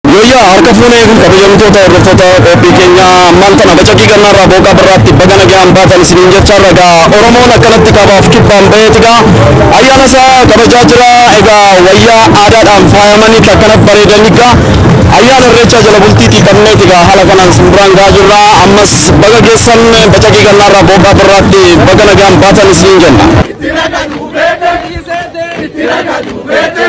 Yooyyaa harka fuunee kabajamtoota hordoftoota qophii keenya ammaan tana bacaqii gannaarraa booqaa birraatti baga nagaan baatan isiniin jechaarra egaa Oromoon akkanatti kaabaaf kibbaan baheet egaa ayyaana isaa kabajaa jira egaa wayyaa aadaadhaan faayamanii akkana bareedan egaa ayyaana irreechaa jala bultiitii qabneet egaa haala kanaan simbiraan gaa jirra ammas baga geessan bacaqii gannaarraa booqaa birraatti baga nagaan baatan isiniin jenna. Itti ragadhu beete. Itti ragadhu beete.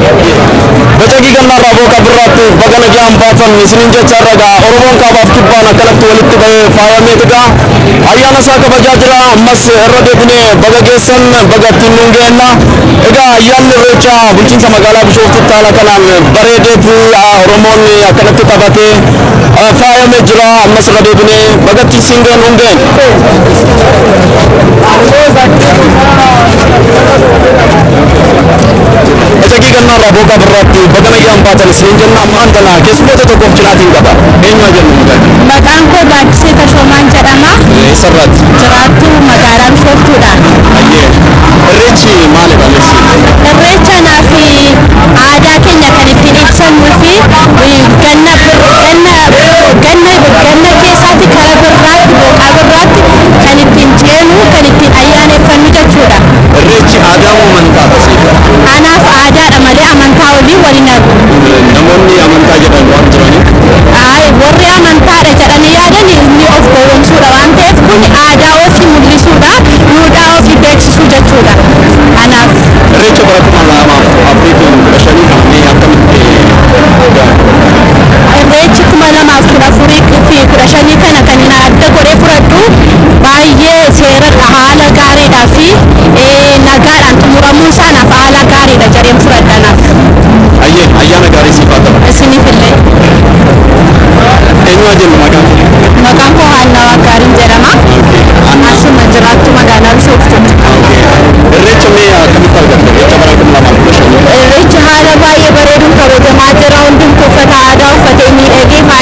Bacaqii gannaarraa booqa birraatti baga nagaan baatan isiniin jechaa irra ga'a oromoon kaabaaf kibbaan akkanatti walitti bahee faayamee dhigaa ayyaana isaa kabajaa jira ammas irra deebinee baga geessan baga ittiin nuun geenna egaa ayyaanni irreechaa bulchiinsa magaalaa bishooftutti haala kanaan bareedeeti oromoon akkanatti taphatee faayamee jira ammas irra deebinee baga ittiin siin geenna Ejagii gannaarraa booqaa birraatti baga nagaan baatan isiniin jenna ammaan tana keessummoota tokkoof cinaatiin qaba. Eenyumaa jennu mucaan? Maqaan koo Gaaddisee Tashoomaan jedhama. Eessarraatti? Jiraattuu magaalaa Bishooftuudha. Ayyee. Irreechi maali balleessi? Irreecha naafi aadaa keenya kan ittiin ibsannuu fi ganna ganna ganna ganna keessaatti kan Birraatti, Booqaa Birraatti kan ittiin ceenu, kan ittiin ayyaaneffannu jechuudha. Irreechi aadaa moo amantaa dha siif? Anaaf aadaa dha malee amantaa waliin wal hin argu. Namoonni amantaa jedhan waan jiraniif. Ayi, warri amantaa dha jedhanii yaadan ni of gowwomsuu dha waan ta'eef kuni aadaa ofii mul'isuu dha, duudhaa ofii beeksisuu jechuudha anaaf. Irreecha bara 2015 kana mee akkamitti daawwatta? Irreechi 2014 Bultii 15 kana kan na adda godhee fudhadhu baay'ee seeradha haala gaariidhaa fi nagaadhaan xumuramuu isaa naaf haala gaariidha jedheen fudhadha naaf. Hayyee ayyaana gaarii siif haa ta'u. Isiniif illee. Eenyu haa jennu maqaan kee? Maqaan koo Haannaa Waaqgaariin jedhama. Asuma jiraattu magaalaa Bishooftuuti. Irreecha mee akkamitti argatte? Irreecha bara 2015. Irreechi haala baay'ee bareeduun kabajamaa jira. Hundumtuu uffata aadaa uffatee miidhagee faayamee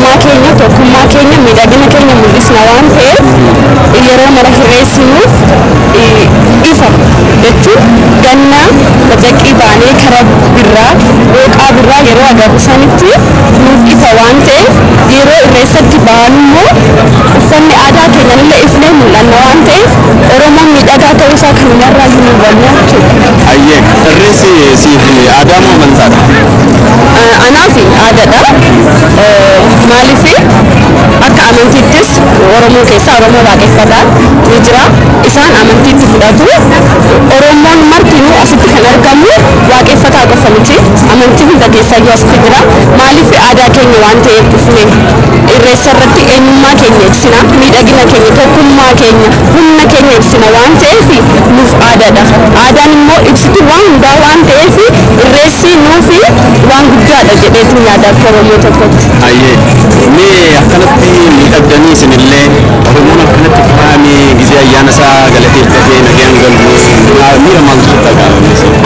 Eenyummaa keenya, tokkummaa keenya, miidhagina keenya mul'isna waan ta'eef yeroo mara hirreessinu ifa jechuun ganna bacaqqii baanee kara birraa, dhooqaa birraa yeroo agarru sanitti nuuf ifa waan ta'eef yeroo irreessatti baanummoo uffanni aadaa keenyanillee ifnee mul'anna waan ta'eef Oromoon miidhagaa ta'uusaa kanumarraayyuu ni hubanna jechuudha. Hayyee. Irreessi siif aadaa moo amantaadha? Anaaf aadaadha. Maaliif akka amantiittis Oromoo keessaa Oromoo waaqeffataan ni jira. Isaan amantiitti fudhatu. Oromoon martinuu asitti kan argamu waaqeffataa qofa miti. Amantii hunda keessaayyuu asitti jira. Maaliif aadaa keenya waan ta'eef dhufne irreessa irratti eenyummaa keenya ibsina, miidhagina keenya, tokkummaa keenya, humna keenya ibsina waan ta'eef nuuf aadaadha. Aadaan immoo ibsituu waan hundaa waan ta'eef irreessi nuuf Waan guddaadha jedheetiin yaada akka wayyoo tokkotti. Hayyee mee akkanatti miidhagdanii isinillee Oromoon akkanatti faayamee gizee ayyaana isaa galateeffatee nagayaan galu maa- miira maaltu sitti dhaga'ama?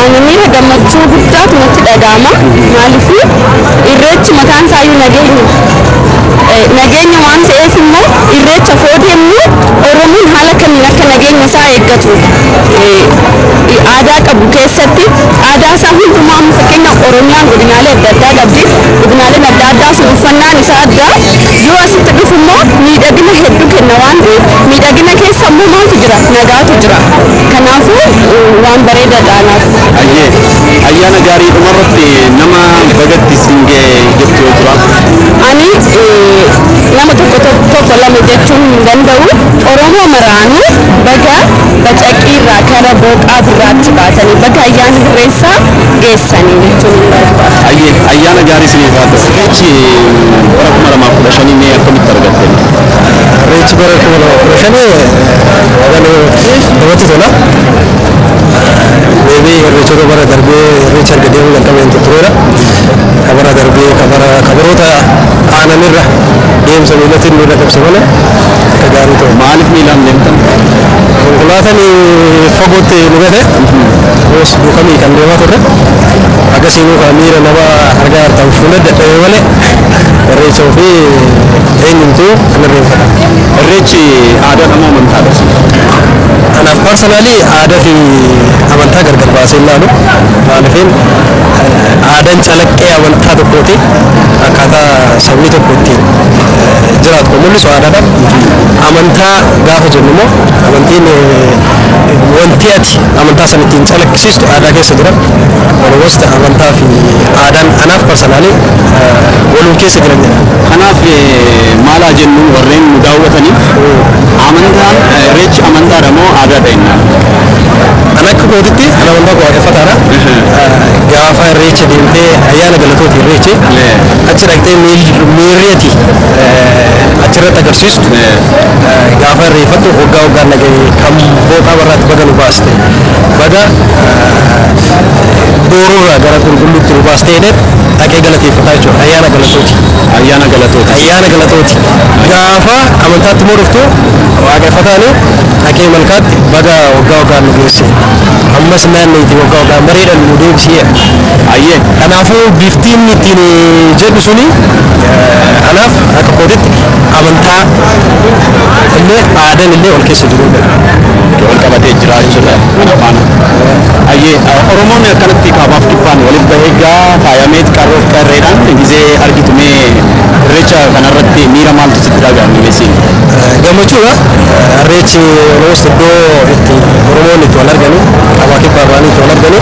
Ani miira gammachuu guddaatu natti dhaga'ama. Maaliif irreechi mataan isaayyuu nageenya. Eh, Nageenya waan ta'eef immoo irreecha foo deemnu Oromoon haala kamiin akka nageenya isaa eeggatu eh, aadaa qabu keessatti Aadaa isaa hundumaa amma fakkeenyaaf Oromiyaan godinaalee adda addaa qabdi. Godinaaleen adda addaa sun uffannaan isaa adda. Yoo asitti dhufu immoo miidhagina hedduu kenna waan ta'eef miidhagina keessa immoo maaltu jira? Nagaatu jira. Kanaafuu waan bareedaadha anaaf. Ayyee ayyaana gaarii dhumarratti nama bagatti siin ga'e jettu yoo jira. Ani nama tokko tokko lama jechuun hin danda'u. Oromoo maraanuu baga Bacaqii irraa kara booqaa birraatti baatanii baga ayyaana hirreessaa geessanii jechuun hin barbaadu. Hayyee ayyaana gaarii isiniif haa ta'u. Irreechi bara 2015 mee akkamitti argatte mee? Irreechi bara 2015 namatti tola. Maybe irreechota bara darbee irreecha erga deemuu jalqabeen tureera. Ka bara darbee ka bara ka baroota aananirra deemsa miilatiin miila qabse malee akka gaarii ta'e. Maaliif miilaan deemtan? Konkolaataan fagootti nu gate yoos duukamii kan deemaa turre akkasiinuu kan miira nama argaa hartaan fuula dadhabe malee irreecha ofii eenyumtuu hin irreeffata. Irreechi aadaadha moo amantaadha? Anaaf parsanaalii aadaa fi amantaa gargar baasee ilaalu maaliifin aadaan calaqqee amantaa tokkooti akkaataa sabni tokko ittiin jiraatu kan mul'isu aadaadha. Amantaa gaafa jennu immoo amantiin wanti ati amantaa sana ittiin calaqqisiistu aadaa keessa jira. Walumaagalatti amantaa fi aadaan anaaf parsanaalii waluma keessa jiran jedha. Kanaaf maal haa jennu warreen nu daawwataniif amantaan irreechi amantaadha moo aadaadha jennaan? An akka kootitti an amantaa koo waaqeffataadha. Gaafa irreecha deemtee ayyaana galatooti irreechi. Achi dhaqxee miirri ati achirratti agarsiistu gaafa irreeffattu waggaa waggaan dhagahe kan booqaa barraatti baga nu baaste baga boorurraa gara qulqulluutti nu baaste jedhee dhaqee galateeffataa jechuudha ayyaana galatooti. Ayyaana galatooti. Ayyaana galatooti. Gaafa amantaatti immoo dhuftu waaqeffataani dhaqee malkaatti baga waggaa waggaan nu geesse ammas naanneeti waggaa waggaan bareedhaan nu deebisee. Ayyee Kanaafuu bifti inni ittiin jedhu suni anaaf akka kootitti amantaa illee aadan illee wal keessa jiruu dha. wal qabatee jiraachuu dha kana faana. Hayyee Oromoon akkanatti kaabaaf kibbaan walitti bahee gaa faayamee qarroof qarreedhaan gizee argitu mee irreecha kanarratti miira maaltu sitti dhaga'ame mee siin? Gammachuu dha. Irreechi Oromoos iddoo itti Oromoon itti wal arganii kaabaa kibbaa bahanii itti wal arganii.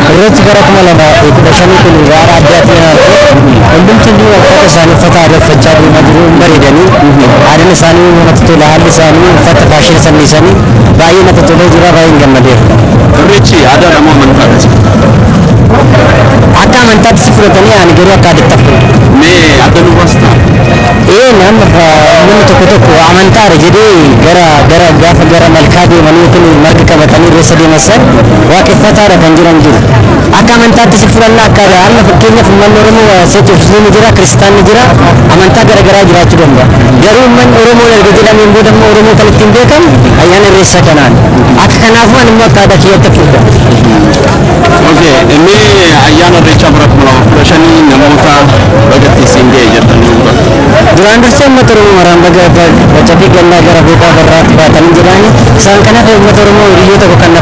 Irreechi bara 2015 kun egaa haala addaatiin kan arge hundumti iyyuu uffata isaanii uffata aadaa uffachaa deemaa jiru hin bareedanii aadaan isaanii namatti tola haalli isaanii uffata faashiina san dhiisanii baay'ee natti tolee jira baay'een gammadeera. Irreechi aadaadha moo amantaa akkasi? Akka amantaatti si fudhatanii ani garuu akka aadaatti fudhadha. Mee adda nu baasta? Ee nama namni tokko tokko amantaadha jedhee gara gara gaafa gara malkaa deemanii yookiin marga qabatanii irreessa deeman san waaqeffataadha kan jiran jiru. Akka amantaattis fudhanna akka amma fakkeenyaaf uummanni Oromoo waa seetu Musliimni jira, Kiristaanni jira, amantaa gara garaa jiraachuu danda'a. Garuu uummanni Oromoo erga jedhameen booda immoo Oromoo kan ittiin beekamu ayyaana Irreessaa kanaan. Akka kanaafuu ani immoo akka aadaa kiyyaatti fudha. Okay, inni ayyaana irreechaa bara kuma lama kudha shanii namoota bagatti isin ga'e jettanii uummata. Duraan dursee uummata Oromoo maraan baga baca fi gannaa gara beekaa barraatti baatanii jedhaani. Isaan kanaaf uummata Oromoo hiriyyoo tokko kan na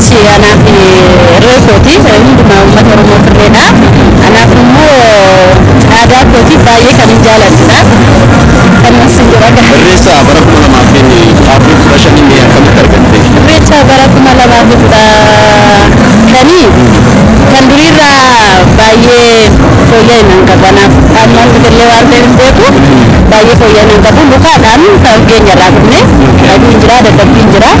Si anaaf irree kooti, hundumaa uummata Oromoof irreedha. Anaaf immoo aadaa kooti baay'ee kanin jaaladhudha. Kanuman sin jedha gaa. Irreessa bara 2015 inni akkamitti argatte? Irreecha bara 2015 kan duriirraa baay'ee fooyya'inaan qabu. Anaaf amma fidillee waan ta'eef hin beeku. Baay'ee fooyya'inaan qabu. Lukaadhaan kan geenyarraa dhufne. Dhaguun jira, dadhabbiin jira.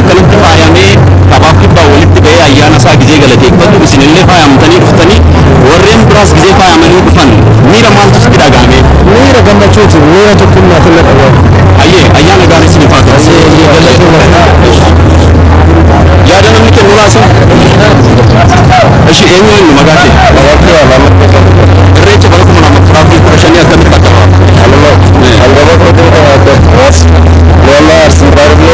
Akkanatti faayamee kabaaf kibbaan walitti ba'ee ayyaana isaa gizee galateeffatu isin illee faayamtanii dhuftanii warreen biraas gizee faayamanii dhufan miira maaltu sitti dhaga'ame? Miira gammachuuti, miira tokkummaatiin na dhaga'ame. Hayyee ayyaana gaarii isiniif haa ta'u. Yaada namni kennu laasin. Eshi eenyu eenyu maqaa kee? Irreecha bara kuma lama kudha afurii kudha shanii akkamitti akka ta'u?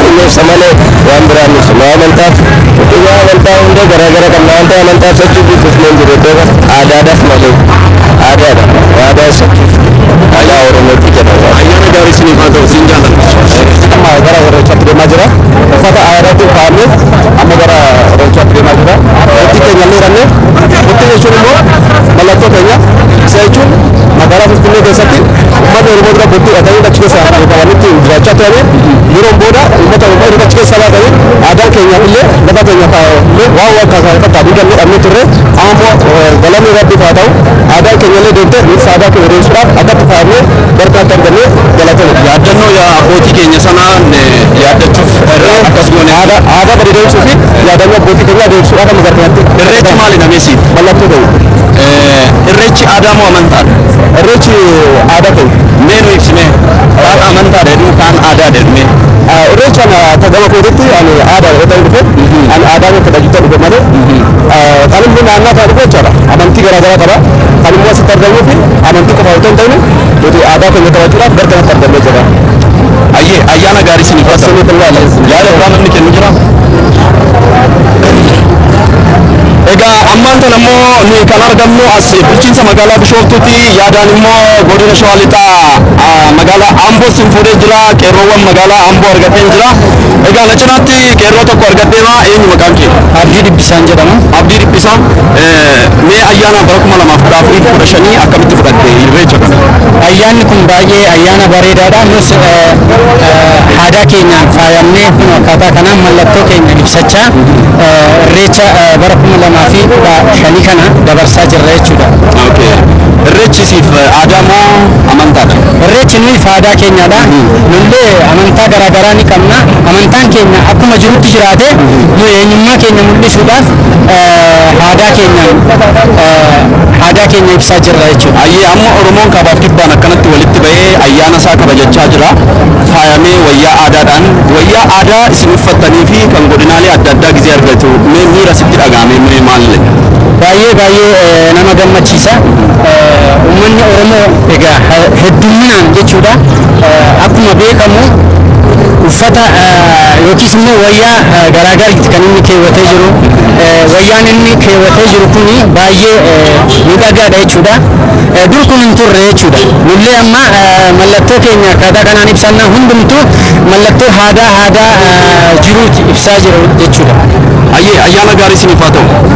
qulqulleessa malee waan biraa miti. Nama amantaaf Dhugaa amantaa hunda garaa gara qabna waan ta'e amantaaf sochii guddifne hin jiru iddoo kana aadaadhaaf malee aadaadha aadaa sochii aadaa Oromootti jedha. Ayyaana gaarii isiniif haa ta'u siin jaalladha. Amma gara Irreechaatti deemaa jira. Uffata aadaatiin faayamne amma gara Irreechaatti deemaa jira. Murtii keenya illee hidhanne. Murtii jechuun immoo mallattoo keenya. Isa jechuun magaalaa Finfinnee keessatti uummanni Oromoo dura bultii dhatanii achi keessa qabanitti jiraachaa turanii Yeroon booda uummata Oromoo erga achi keessaa baatanii aadaan keenyaaf illee lafa keenyaaf illee waan wal fakkaatu hin qabne dhabnee turre. Amma immoo galanni Rabbiif haa ta'u aadaan keenya illee deebitee nutis aadaa keenya deebisuudhaaf akkatti faayamnee barkaatti argamne galatoomi. Yaaddannoo abbootii keenya sanaa yaaddachuuf irraa akkas goone. Aadaa bade deebisuu fi yaadannoo abbootii keenyaa deebisuudhaaf amma gara kanatti. Irreechi maali namee siif? Mallattoo ta'u. Irreechi aadaa moo amantaadha? Irreechi aadaa ta'u. Mee nu ibsi mee. kaan amantaa dheedhuu kaan aadaa dheedhuu. Irreechaan akka gama kootitti ani aadaa dheedhuu dhufe ani aadaa koo kabajachaa dhufe malee kan immoo naannaa kana dhufe jechaadha amantii garaa garaa qaba kan immoo asitti argamuu fi amantii qofa otoo hin ta'in nuti aadaa keenya kabajuudhaaf gara kanatti argamnee jira. Ayyee ayyaana gaarii isin hin Asirri kun laala. Yaada waan namni kennu jira. Egaa ammaan tan ammoo nuyi kan argamnu as bulchiinsa magaalaa Bishooftuuti Yaadaan immoo Godina Shawaa Lixaa magaalaa Amboo sin fuudhee jira. Qeerroowwan magaalaa Amboo argadheen jira. Egaa na cinaatti qeerroo tokko argadheema. Eenyu maqaan kee? Abdii Dhibbisaan jedhama. Abdii Dhibbisaa, mee ayyaana bara 2014 fi 15 akkamitti fudhatte irreecha kana? Ayyaanni kun baay'ee ayyaana bareedaadha. Nus aadaa keenyaan faayamnee kun akkaataa kanaan mallattoo keenya ibsachaa irreecha bara 2015 kana dabarsaa jirra jechuudha. Irreechi siif aadaa moo amantaadha? Irreechi nuyiif aadaa keenyadha. Nullee amantaa garaa garaa ni qabna. Amantaan keenya akkuma jirutti jiraate nuyi eenyummaa keenya mul'isuudhaaf aadaa keenyaan aadaa keenya ibsaa jirra jechuudha. Ayyee amma Oromoon kaabaaf kibbaan akkanatti walitti ba'ee ayyaana isaa kabajachaa jira. Faayamee wayyaa aadaadhaan wayyaa aadaa isin uffattanii fi kan godinaalee adda addaa gizee argatu mee miira sitti dhaga'ame mee maalle? Baay'ee baay'ee nama gammachiisa. Ummanni Oromoo egaa heddumminaan jechuudha akkuma beekamu uffata yookiis immoo wayyaa garaagariiti kan inni keewwatee jiru. Wayyaan inni keewwatee jiru kun baay'ee miidhagaadha jechuudha. Dur kun hin turre jechuudha. Nullee amma mallattoo keenya akkaataa kanaan ibsannaa hundumtuu mallattoo aadaa aadaa jiruuti ibsaa jiru jechuudha. Hayyee ayyaana gaarii isiniif haa ta'u.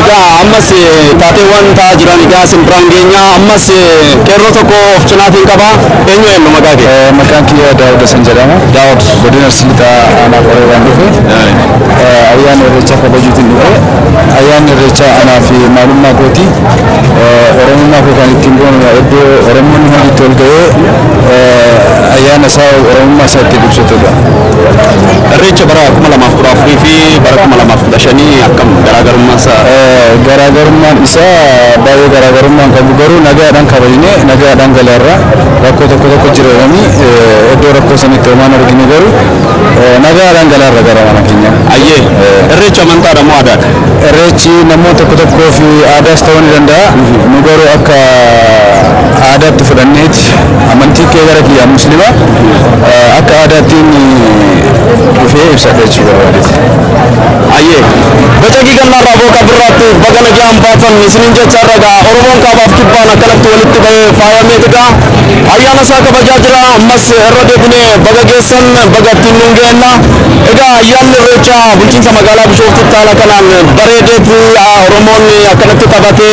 Egaa ammas taateewwan ta'aa jiran egaa isin biraan geenya. Ammas qeerroo tokko of cinaatiin qaba. Eenyu eenyu maqaa kee? Maqaan kiyya Daawud Hasan jedhama. Daawud. Godina Arsii Lixaa Aanaa Qoree waan dhufe. Ayyaana Irreechaa kabajuutiin dhufe. Ayyaanni Irreechaa anaa fi maalummaa kooti. Oromummaa koo kan ittiin boonu iddoo Oromoonni hundi itti ol ga'ee ayyaana isaa Oromummaa isaa ittiin ibsatudha. Irreecha bara 2014 fi bara 2015 akkam garaagarummaan isaa? Garaagarummaan isaa baay'ee garaagarummaa hin qabu garuu nagaadhaan kabajne nagaadhaan galeerra rakkoo tokko tokko jira jedhanii iddoo rakkoo sanitti homaan argine garuu nagaadhaan galeerra gara mana keenya. Ayyee irreecha amantaadha moo aadaadha? Irreechi namoota tokko tokkoof aadaas ta'uu ni danda'a nu garuu akka aadaatti fudhanneeti. Amantiitti. Amantiin kee gara kiyyaa Muslima akka aadaattiin dhufee ibsadha jechuu barbaadeti. Hayyee. Bacaqii Gannaarraa Booqa Birraatti baga nagaan baatan isiniin jechaa irra ga'a. Oromoon Kaabaaf Kibbaan akkanatti walitti bahee faayamee egaa ayyaana isaa kabajaa jira. Ammas irra deebinee baga geessan baga ittiin nuun geenna. Egaa ayyaanni Irreechaa bulchiinsa magaalaa Bishooftuutti haala kanaan bareedeeti Oromoon akkanatti taphatee